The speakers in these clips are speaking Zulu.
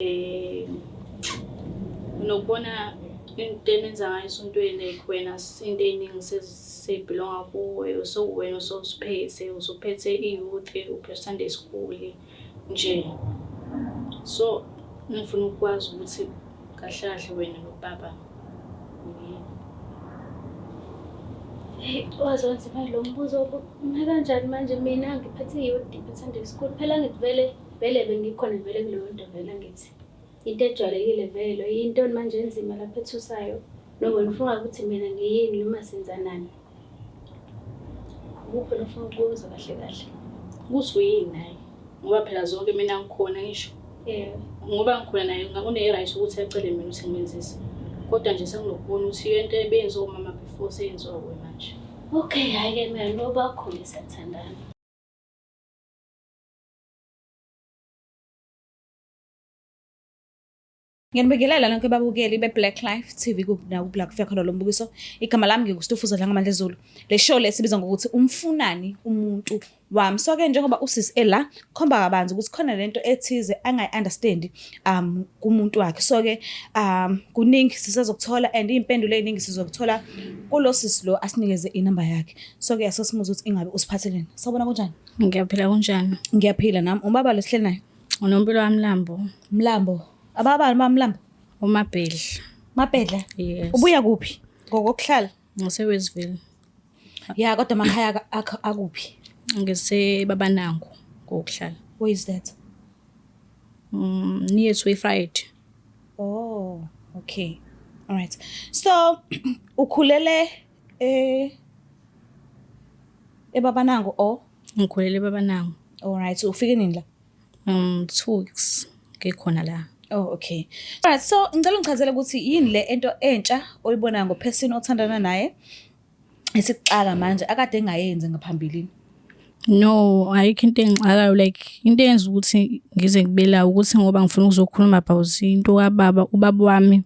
Eh, nokubona into enenza ngayo esontweni like wena into ey'ningi sezibhilonga kuwe usewuwena usoziphethe usuphethe i-youth uphethe sunday school nje so ngifuna ukwazi ukuthi kahle kahle wena nobaba wazonzima lo mbuzo uma kanjani manje mina ngiphethe i-youth ngiphethe sunday school phela ngivele Vele bengikhona vele kuleyonto vele ngithi into ejwayelekile vele yintoni manje enzima lapho ethusayo noma nifunga ukuthi mina ngiyini noma senzanani ukuphi nofuna ukubuza kahle kahle ukuthi uyini naye ngoba phela zonke mina ngikhona ngisho um ngoba ngikhona naye une-right ukuthi acele mina ukuthi ngimenzise kodwa nje sengilokubona ukuthi iyo into ebeyenziwa umama before seyenziwa kuwe manje okay hhayi-ke mina noba khona isathandana Nginibingelela nonke babukeli be-Black Life TV nakubla kufika khona lo mbukiso. Igama lami nginguStufuza Dlangamandla Zulu. Le show le sibiza ngokuthi umfunani umuntu wami. So ke njengoba usisi ela khomba kabanzi ukuthi khona lento ethize angayi-understand um kumuntu wakhe. So ke um kuningi sisazokuthola and iy'mpendulo ey'ningi sizokuthola kulo sisi lo asinikeze inamba yakhe. So ke asesimuza ukuthi ingabe usiphatheleni. Sawubona kunjani? Ngiyaphila kunjani? Ngiyaphila nami. Ubaba lo sihleli naye? Unompilo wami Mlambo. Mlambo. Ababani ba Mlambo? UMabhedla. Mabhedla? Yes. Ubuya kuphi? Ngokokuhlala? NgiseWestville. Ya kodwa amakhaya ak- akho akuphi? NgiseBabanango ngokuhlala. Where is that? Mm, near to Friday. Oh, okay. All right. So ukhulele Eh eBabanango or ngikhulele eBabanango. All right, so ufike nini la? Um 2 weeks ngikhona la. Oh okay. Alright so ngicela ungichazele ukuthi yini le ento entsha oyibona ngophesini othandana naye esikuxaka manje akade engayenzi ngaphambilini. No, ayikho into engixakayo like into eyenza ukuthi ngize ngibela ukuthi ngoba ngifuna ukuzokhuluma about into kababa ubaba wami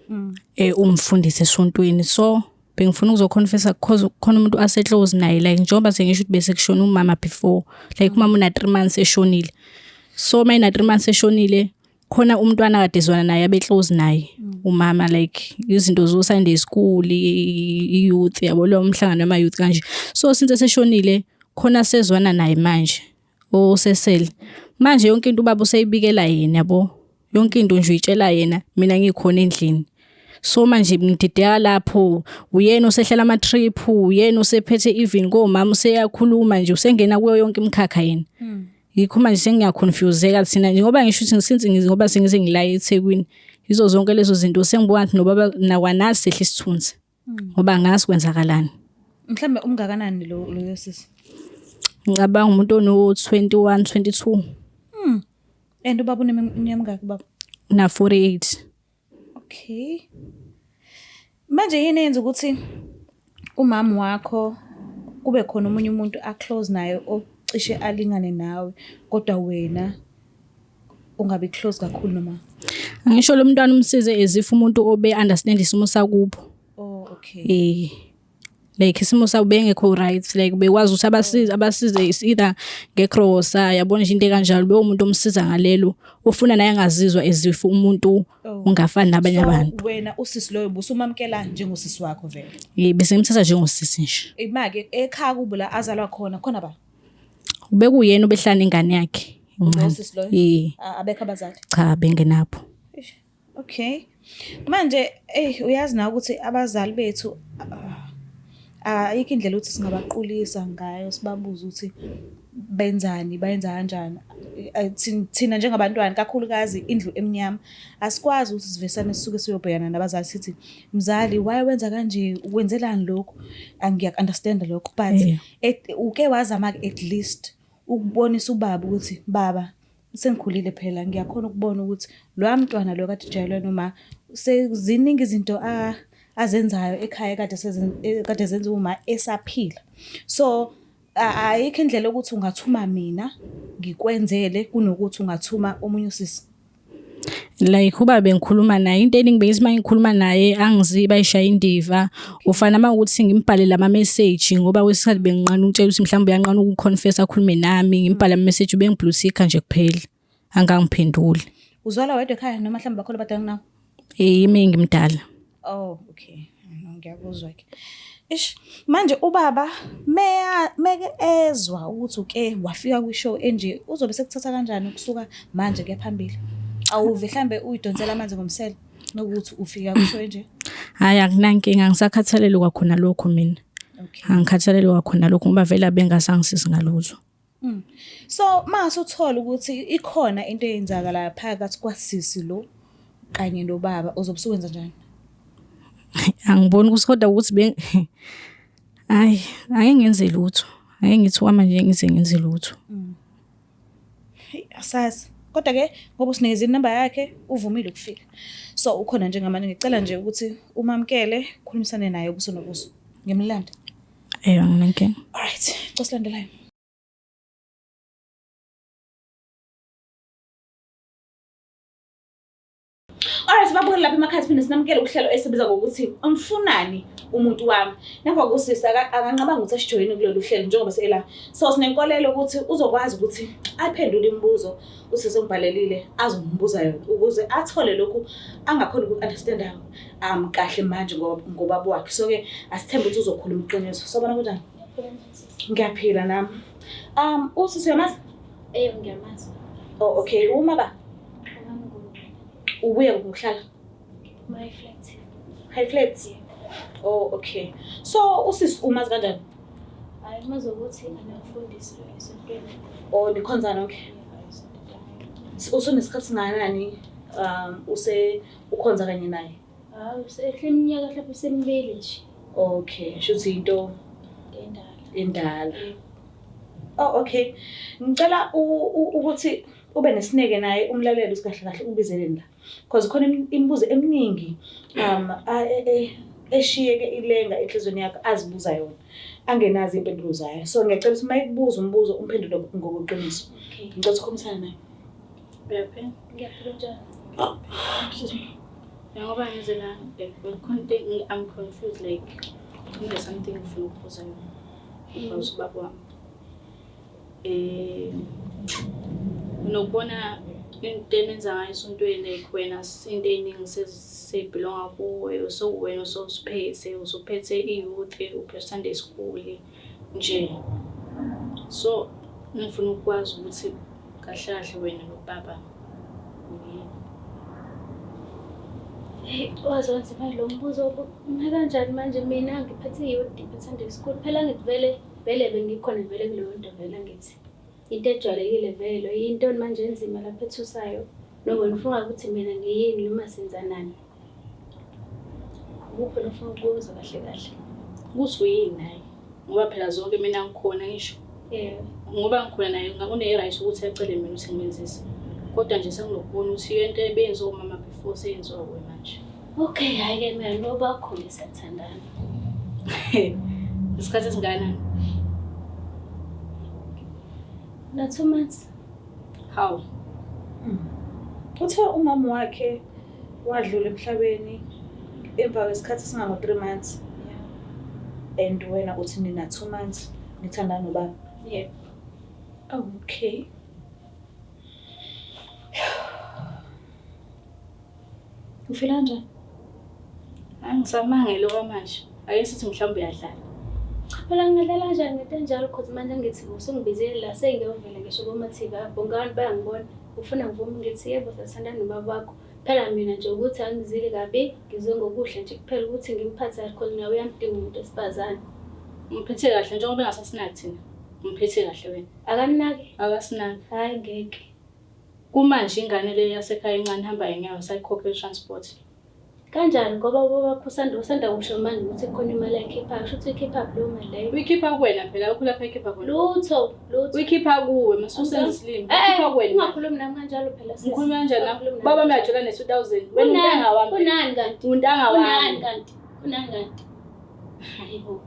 mm. eh umfundisi esontweni so bengifuna ukuzoconfessa because khona umuntu aseclose naye like njengoba sengisho ukuthi bese kushona umama before like umama una 3 months eshonile so mina 3 months eshonile khona umntwana kade ezwana naye abe close naye mm. umama like izinto zo Sunday school i youth yabo lo mhlangano wama youth kanje so since seshonile khona sezwana naye manje osesele manje yonke into ubaba useyibikela yena yabo yonke into nje uyitshela yena mina ngikhona endlini so manje ngidideka lapho uyena osehlela ama trip uyena osephethe even komama useyakhuluma nje usengena kuyo yonke imkhakha yena mm. yikho manje sengiyaconfuseka thina njengoba ngisho ukuthi since ngoba sengize ngila eThekwini yizo zonke lezo zinto sengibona ukuthi nobaba nakwanazi sehle isithunzi hmm. ngoba ngazi kwenzakalani mhlambe umngakanani lo loyo sisi ngicabanga umuntu ono 21 22 mm and ubaba uneminyaka mingaki baba na 48 Okay. Manje yini yenza ukuthi umama wakho kube khona omunye umuntu aclose naye ocishe alingane nawe kodwa wena ungabi close kakhulu noma? Ngisho lo mntwana umsize as if umuntu obe understand isimo sakubo. Oh okay. Eh. like isimo sabo bengekho right like bekwazi ukuthi abasize abasize is either ngegrosa yabona nje into ekanjalo bewu umuntu omsiza ngalelo ufuna naye angazizwa ezifu umuntu oh. ungafani nabanye abantu wena usisi loyo busumamkela njengosisi wakho vele yebo bese ngimthatha njengosisi nje imake ekhaya kubo la azalwa khona khona ba ubekuyena ubehlala ingane yakhe incane abekho abazali cha bengenapho Okay. Manje ey uyazi na ukuthi abazali bethu ah, ayikho indlela ukuthi singabaqulisa ngayo sibabuze ukuthi benzani bayenza kanjani eh, thina njengabantwana kakhulukazi indlu emnyama asikwazi ukuthi sivesane sisuke siyobhekana nabazali sithi mzali why wenza kanje wenzelani lokhu angiyakunderstand lokho but uke wazama at least ukubonisa ubaba ukuthi baba sengikhulile phela ngiyakhona ukubona ukuthi loya mntwana lo kade ujayelwe noma seziningi izinto a azenzayo ekhaya kade e, kade zenza uma esaphila so ayikho indlela ukuthi ungathuma mina ngikwenzele kunokuthi ungathuma omunye usisi like uba bengikhuluma naye into eningi bengithi uma ngikhuluma naye angiziyi bayishaya indiva ufana uma ukuthi ngimbhalele ama-message ngoba kwesikhathi benginqana ukutshela ukuthi mhlawumbe uyanqana ukuconfess akhulume nami ngimbhale ama-message ubengiblutika nje kuphela angangiphenduli uzalwa wedwa ekhaya noma mhlawumbe bakhona abadala kunawo yimi ngimdala Oh okay. Ngiyakuzwa ke. Ish manje ubaba meya meke ezwa ukuthi uke wafika kwi show enje uzobe sekuthatha kanjani ukusuka manje kuya phambili. Awuve mhlambe uyidonsela amanzi ngomsele nokuthi ufika kwi show enje. Hayi akunankinga ngisakhathalele kwakhona lokho mina. Okay. Angikhathalele kwakhona lokho ngoba vele abengasangisizi ngalutho. Mm. So mase uthola ukuthi ikhona into eyenzakalayo phakathi kwasisi lo kanye nobaba uzobe usuwenza njani? Angiboni ukuthi kodwa ukuthi be Hayi, ake ngenze lutho. Ake ngithi wama nje ngize ngenze lutho. Mm. Hey, asazi. Kodwa ke ngoba usinikeza inamba yakhe uvumile ukufika. So ukhona njengamanje ngicela nje ukuthi umamkele, khulumisane naye ubuso nobuso. Ngimlanda. Eyo nginenkinga. All right, cosilandelayo. Alright babukele lapha emakhaya siphinde sinamukele uhlelo esibiza ngokuthi umfunani umuntu wami. Ngemva kokusisa akanqabanga ukuthi asijoyine kulolu hlelo njengoba sela. So sinenkolelo ukuthi uzokwazi ukuthi aphendule imibuzo usise umbhalelile azombuza yona ukuze athole lokhu angakhona uku-understanda um kahle manje ngobaba wakhe so ke asithembe ukuthi uzokhuluma iqiniso sobona kunjani ngiyaphila nami um usisi uyamazi eyo ngiyamazi o oh, okay uma ba ubuye ngokuhlala my flat high flat o oh, okay so usisi umazi kanjani hayi umazi ukuthi anakufundisi esontweni o oh, nikhonzana okay usunesikhathi singakanani um use ukhonza kanye naye hayi usehle iminyaka mhlawumbe usemibili nje okay shuthi into endala endala oh okay ngicela ukuthi ube nesineke naye umlaleli usikahle kahle ubizeleni la because khona imibuzo eminingi um e, e, eshiyeke ilenga enhlizweni yakho azibuza yona angenazi impendulo zayo so ngiyacela ukuthi uma ikubuza umbuzo umphendule ngokuqiniso ngicela ukukhombisana naye Bebe, ngiyaphila njani? Ngoba ngize la ngikhona into I'm confused like kune something ngifuna ukubuza yona. Ngawuthi mm. ubaba wami. Eh nokubona into enenza ngayo esontweni like wena into ey'ningi sezibhilonga kuwe sowuwena ososiphethe usuphethe i-youth uphethe sunday school mm. nje so ngifuna ukwazi ukuthi kahle kahle wena nobaba wazonza imali lo mbuzo uma kanjani manje mina ngiphethe yodi ngithanda school phela ngithi vele vele bengikhona vele kuleyo nto vele ngithi into ejwayelekile vele yintoni manje enzima lapho ethusayo nokho ngifunga ukuthi mina ngiyini noma senzanani Ukuphi nofuna ukubuza kahle kahle? Ukuthi uyini naye? Ngoba phela zonke mina ngikhona ngisho. Yeah. Ngoba ngikhona naye ngakune-right ukuthi acele mina ukuthi ngimenzise. Kodwa nje sengilokubona ukuthi into ebenziwa umama before seyenziwa kuwe manje. Okay, hhayi-ke mina noba khona siyathandana. Isikhathi esingakanani? Na two months. How? Uthe umama wakhe wadlula emhlabeni emva kwesikhathi esingango three months and wena uthi nina two months nithandana nobaba yeah. Oh, okay ufila njani angisamangele okwamanje Ake sithi mhlawumbe uyadlala. Cha phela ngingadlala kanjani ngento enjalo cause manje ngithi usungibizile la sengiyovela ngisho komathiba bonke abantu bayangibona ufuna ngivume ngithi yebo sasithanda nobaba wakho phela mina nje ukuthi angizile kabi ngizwe ngokuhle nje kuphela ukuthi ngimphathe kahle cause nawe uyamdinga umuntu wesifazane umphethe kahle njengoba engasasinaki thina umphethe kahle wena akanaki akasinaki hayi ngeke kumanje ingane leyo yasekhaya incane ihamba yenyawo sayikhokhe transport Kanjani ngoba ubaba wakho usanda usanda kusho manje ukuthi kukhona imali ayikhiphayo. Kusho ukuthi uyikhipha leyo mali leyo. Uyikhipha kuwena phela akho lapha ekhipha khona. Lutho, lutho. Uyikhipha kuwe masusenza isilimo. Eh, Uyikhipha eh, kuwena. Ungakhulumi nami kanjalo phela sisi. Ngikhuluma kanjani nami? Baba mina ajula ne 2000. Wena untanga wami. Unani kanti? Untanga wami. Unani kanti? Unani kanti? Hayibo.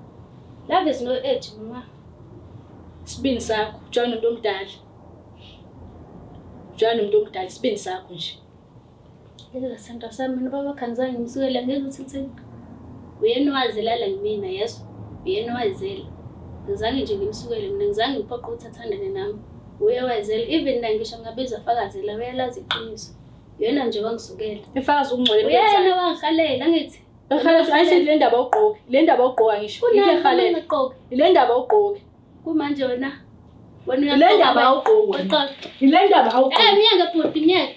Love is no age mama. Sibini sakho, jwana umuntu omdala. Jwana umuntu omdala, sibini sakho nje. Yela sandra sami mina baba khanzange ngimsukela ngezwa ukuthi kuthini. Uyena owazela la kumina yezwa. Uyena owazela. Ngizange nje ngimsukele mina ngizange ngiphoqe ukuthi athandane nami. Uye wazela even la ngisho ngabiza fakazela uyalazi iqiniso. Uyena nje wangisukela. Ifakazi ukungcwele mina. Uyena wangihalela ngithi. Ekhalathi ayisithi le ndaba ugqoke. Le ndaba ugqoka ngisho. Yike ekhalathi. Le ndaba ugqoke. Kumanje wena. Wena uyaqoka. Le ndaba ugqoka. Ile ndaba ugqoka. Eh myeke bhuti myeke.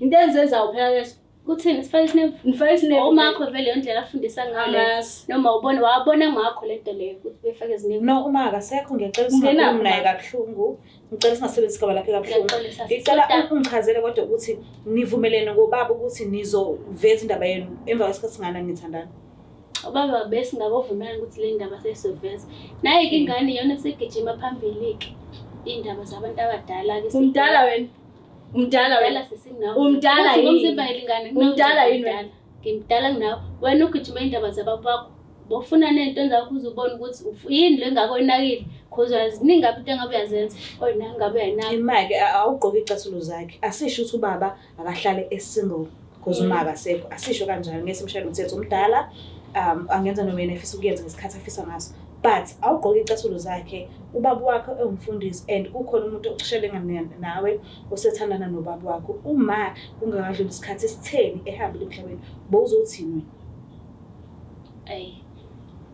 Into enzenza uphela leso. Kuthini sifake isine ngifake isine umakho vele indlela afundisa ngayo. Noma ubona wabona ngakho lento leyo ukuthi befake izinebe. No uma akasekho ngicela usingakhulumi naye kabuhlungu. Ngicela singasebenzisi igama lakhe kabuhlungu. Ngicela ungichazele kodwa ukuthi nivumelene ngobaba ukuthi nizoveza indaba yenu emva kwesikhathi singana nithandana. Ubaba besingakovumelana ukuthi le ndaba sesizoveza. Naye ke ingane yona segijima phambili ke. Indaba zabantu abadala ke. Umdala wena. Umdala wena. Umdala yini? Umzimba elingane. Umdala yini wena? Ngimdala nginawe. Wena ugijima indaba zababa bakho. Bofuna nento engakho uzubona ukuthi yini le ngakho inakile. Khoza ziningi ngabe into engabe uyazenza. Oyina ngabe uyayinaka. Imake awugqoki icathulo zakhe. Asisho ukuthi ubaba akahlale esingle. because uma akasekho asisho kanjalo ngeke simshayele umthetho umdala um angenza noma yena efisa ukuyenza ngesikhathi afisa ngaso but awugqoke icathulo zakhe ubaba wakho ewumfundisi and kukhona umuntu okushelenga nawe osethandana nobaba wakho uma kungakadluli isikhathi esitheni ehambile emhlabeni bowuzothini wena ayi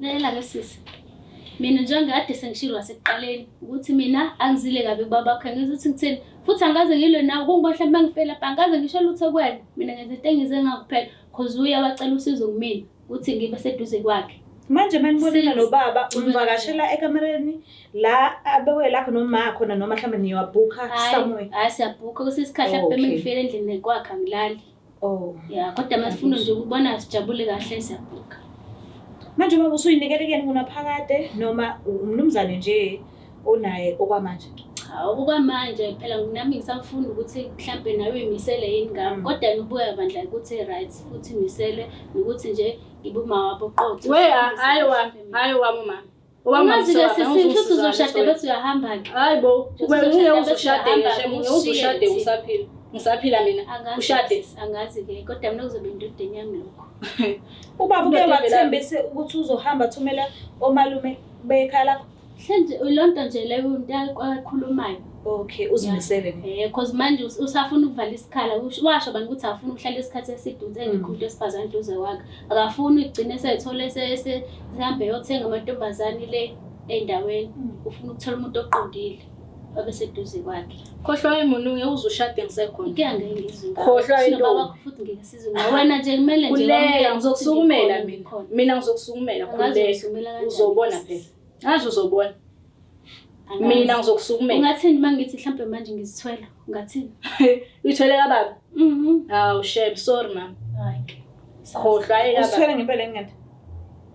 Lalela-ke sisi, mina njengoba kade sengishilo ngasekuqaleni ukuthi mina angizile kabi kubaba wakho, angizwa ukuthi ngithini futhi angikaze ngilwe nawe kungoba mhlawumbe uma ngifela pha angikaze ngisho lutho kuwena mina ngenza into engize ngakuphela cause uye wacela usizo kumina ukuthi ngibe seduze kwakhe manje uma nibonela lo baba umvakashela ekamereni la abewe lakho noma khona noma mhlawumbe niyowabhukha somewhere hayi siyabhukha kusesikhahle oh, okay. bemengifela endlini kwakhe angilali Oh. Ya kodwa masifuna nje ukubona sijabule kahle siyabhuka. Manje baba usuyinikele kuyena kunaphakade noma umnumzane nje onaye okwamanje? Cha okwamanje phela nami ngisafunda ukuthi mhlampe nawe uyimisele yini ngami mm. kodwa ngibuya bandla ukuthi right futhi misele nokuthi nje ngibuma wabo qotho. We hayi wami, hayi wami mama. Umazi ke sisi ngithi uzoshada bese uyahamba ke. Hayibo, ube ngeke uzoshade ngisho ngeke uzoshade usaphila. Ngisaphila mina. Ushade. Angazi ke kodwa mina kuzobe indodeni yami lokho. Ubaba uke wathembise ukuthi uzohamba thumela omalume bekhaya lakho. Mhlanje lonto nje leyo into ayikhulumayo. Okay, uzimisele nje. Eh cause manje us- usafuna ukuvala isikhala Ush- washo abantu ukuthi afuna ukuhlala isikhathi eside ukuthi engekho umuntu wesifazane eduze kwakhe. Akafuni ukugcina esethole ese- se- sihambe yothenga amantombazane le endaweni. Ufuna ukuthola umuntu oqondile obe seduze kwakhe. Khohlwa emuntu ngeke uze ushade ngisekhona. Inkinga ngeke ngizwe ngawe. Khohlwa Sinoba intombi. bakho futhi ngeke sizwe ngawe. Wena nje kumele nje Khuleka wamukele ukuthi ngizokusukumela ngikhona, mina. ngikhona. Mina ngizokusukumela Angazi khuleka. uzumela kanjani Uzobona lesi. phela. Ngazi uzobona. Mina ngizokusukumela. Ungathini mangithi mhlambe manje ngizithwela? Ungathini? Uyithwele kababa? Mhm. Hawu shem, sorry mama. Hayi. Khohlwa ayeka. Usithwele ngempela ngingade.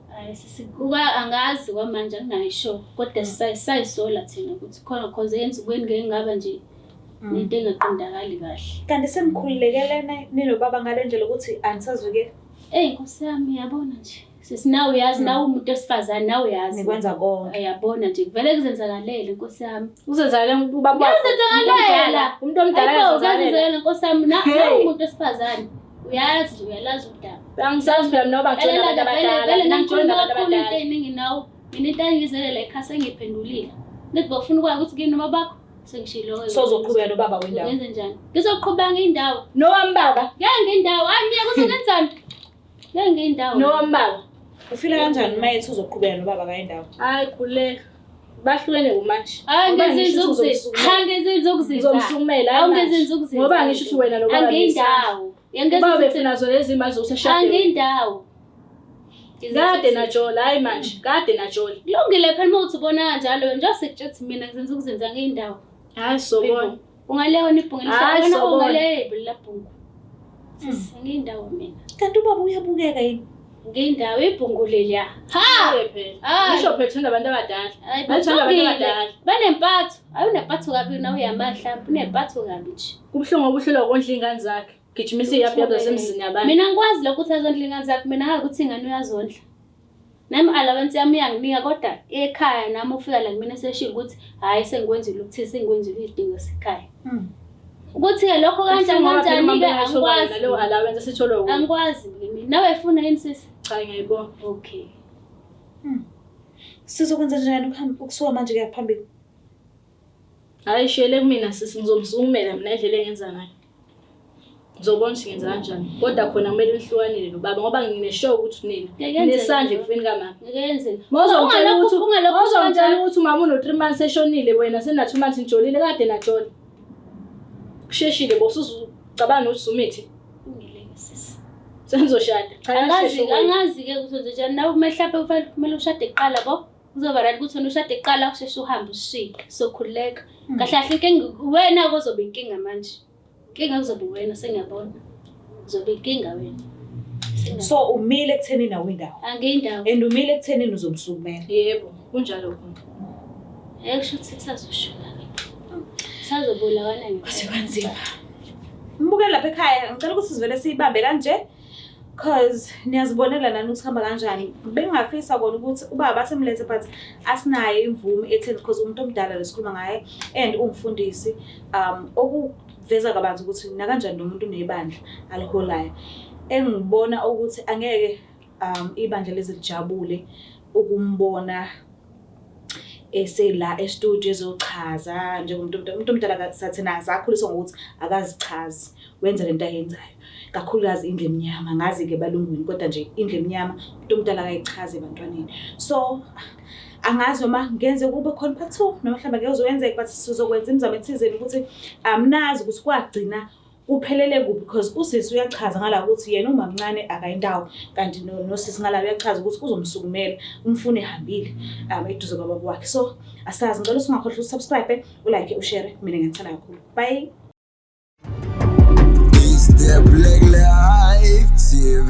Hayi sisi kuba angazi kwamanje angayisho kodwa mm. sisayisola thina ukuthi khona cause yenza ukweni ngeke ngaba nje mm. into engaqondakali kahle. Kanti semkhululekele nina nobaba ngale ndlela ukuthi anisazivikeli. Ey nkosi yami yabona nje. Sisi nawe uyazi hmm. nawe umuntu wesifazane nawe uyazi. Nikwenza konke. Uyabona nje kuvele kuzenzakalele Nkosi yami. Kuzenzakalele ubaba wakho. Kuzenzakalele. Umuntu omdala kuzenzakalele Nkosi yami nawe umuntu wesifazane. Uyazi uyalazi udaba. Angisazi phela mina obagcina abantu abadala. Vele nangigcina abantu abadala. Into eningi nawe. Mina into engizelele ekhasa engiphendulile. Ngithi bafuna ukwazi ukuthi kini noma bakho sengishiloyo sozoqhubeka nobaba wendawo ngenze njani ngizoqhubeka ngendawo nowami baba ngeke ngendawo hayi mina kusenenzani Nengi indawo. No mbaba. Ufila kanjani uma ethi uzoqhubeka nobaba kaye indawo? Hayi khuleka. Bahlukene kumanje. Hayi ngezinza ukuzisa. Hayi ngezinza ukuzisa. Uzomsumela. Hayi ngezinza ukuzisa. Ngoba ngisho ukuthi wena lo baba. Angiyindawo. Yangezinza. Baba befuna zona lezi mali zokushada. Angiyindawo. Kade najola hayi manje. Kade najola. Kulungile phela uma uthi ubona kanjalo nje sekutshela mina ngizenza ukuzenza ngeyindawo. Hayi sobona. Ungalewa nibhungile. Hayi Wena sobona. ungalewa ibhulila bhungu. Sisi ngiyindawo mina. Kanti ubaba uyabukeka yini? Ngiyindawo ibhungu leliya. Ha! Hayi. Ngisho phela thanda abantu abadala. Hayi Bathanda abantu bathukile. abadala. Banempatho. Hayi unempatho kabi nawe uyamahla. Unempatho kabi nje. Kubuhlungu okuhlelwa ukondla iy'ngane zakhe. Gijimisa iyaphi yaphi zasemzini yabantu. Mina ngikwazi lokho ukuthi azondla ingane zakho. Mina ngazi ukuthi ingane uyazondla. Nami allowance yami iyanginika kodwa ekhaya nami ufika la kumina seshilo ukuthi hhayi sengikwenzile ukuthini sengikwenzile izidingo esekhaya. Hmm. Ukuthi-ke lokho kanjani kanjani-ke angikwazi. Leyo allowance esitholwa wuwe. Angikwazi kimi. Nawe funa yini sisi? Cha ngiyayibona. Okay. Hmm. Sizokwenza njani ukuhamba ukusuka manje kuya phambili? Hhayi shiyele kumina sisi ngizomsukumela mina indlela engenza ngayo. ngizobona ukuthi ngenza kanjani kodwa khona kumele nihlukanele nobaba ngoba ngineshow ukuthi nina nesandla ekufeni kamama mozongitshela ukuthi mozongitshela ukuthi umama uno-three months eshonile wena sena-two months nijolile kade najola kusheshile bosuzucabanga nokuthi sumithi sengizoshada angazi-ke ukuthi nje njani nawe kumele hlampe kumele ushade kuqala bo Kuzoba right ukuthi wena ushade kuqala usheshe uhambe ushiye. Sokhululeka. Mm. Kahle kahle ke wena kozobe inkinga manje. Inkinga kuzobe wena sengiyabona. Uzobe inkinga wena. So umile ekutheni nawe indawo. Angiyindawo. And umile ekutheni uzomsukumela. Yebo, kunjalo konke. Hey kusho ukuthi kusazoshuka. Sazobulawana nje. Kusebanzima. Mbuke lapha ekhaya ngicela ukuthi sivele siyibambe kanje. cause niyazibonela nani ukuthi hamba kanjani bengafisa kona ukuthi ubaba asemlethe but asinayo imvume etheni because umuntu omdala lesikhuluma ngaye and ungifundisi um okuveza kabanzi ukuthi nakanjani nomuntu unebandla aliholayo engibona ukuthi angeke um ibandla leze lijabule ukumbona esela estudio ezochaza njengomuntu omdala umuntu omdala sathina sakhuliswa ngokuthi akazichazi wenza lento ayenzayo kakhulukazi indle emnyama ngazi-ke balungwini kodwa nje indle emnyama umuntu omdala akayichazi ebantwaneni so angazi noma ngenze kube khona part two noma mhlawumbe ngeke uzokwenzeka but sizokwenza imizamo ethizeni ukuthi amnazi ukuthi kwagcina uphelele kuphi because usisi uyachaza ngala ukuthi yena umamncane akayindawo kanti nosisi ngala uyachaza ukuthi uzomsukumela umfune ehambile um eduze kwababa wakhe so asazi ngicela usingakhohlwa usubscribe ulike ushare mina ngithanda kakhulu bye Is there black life TV?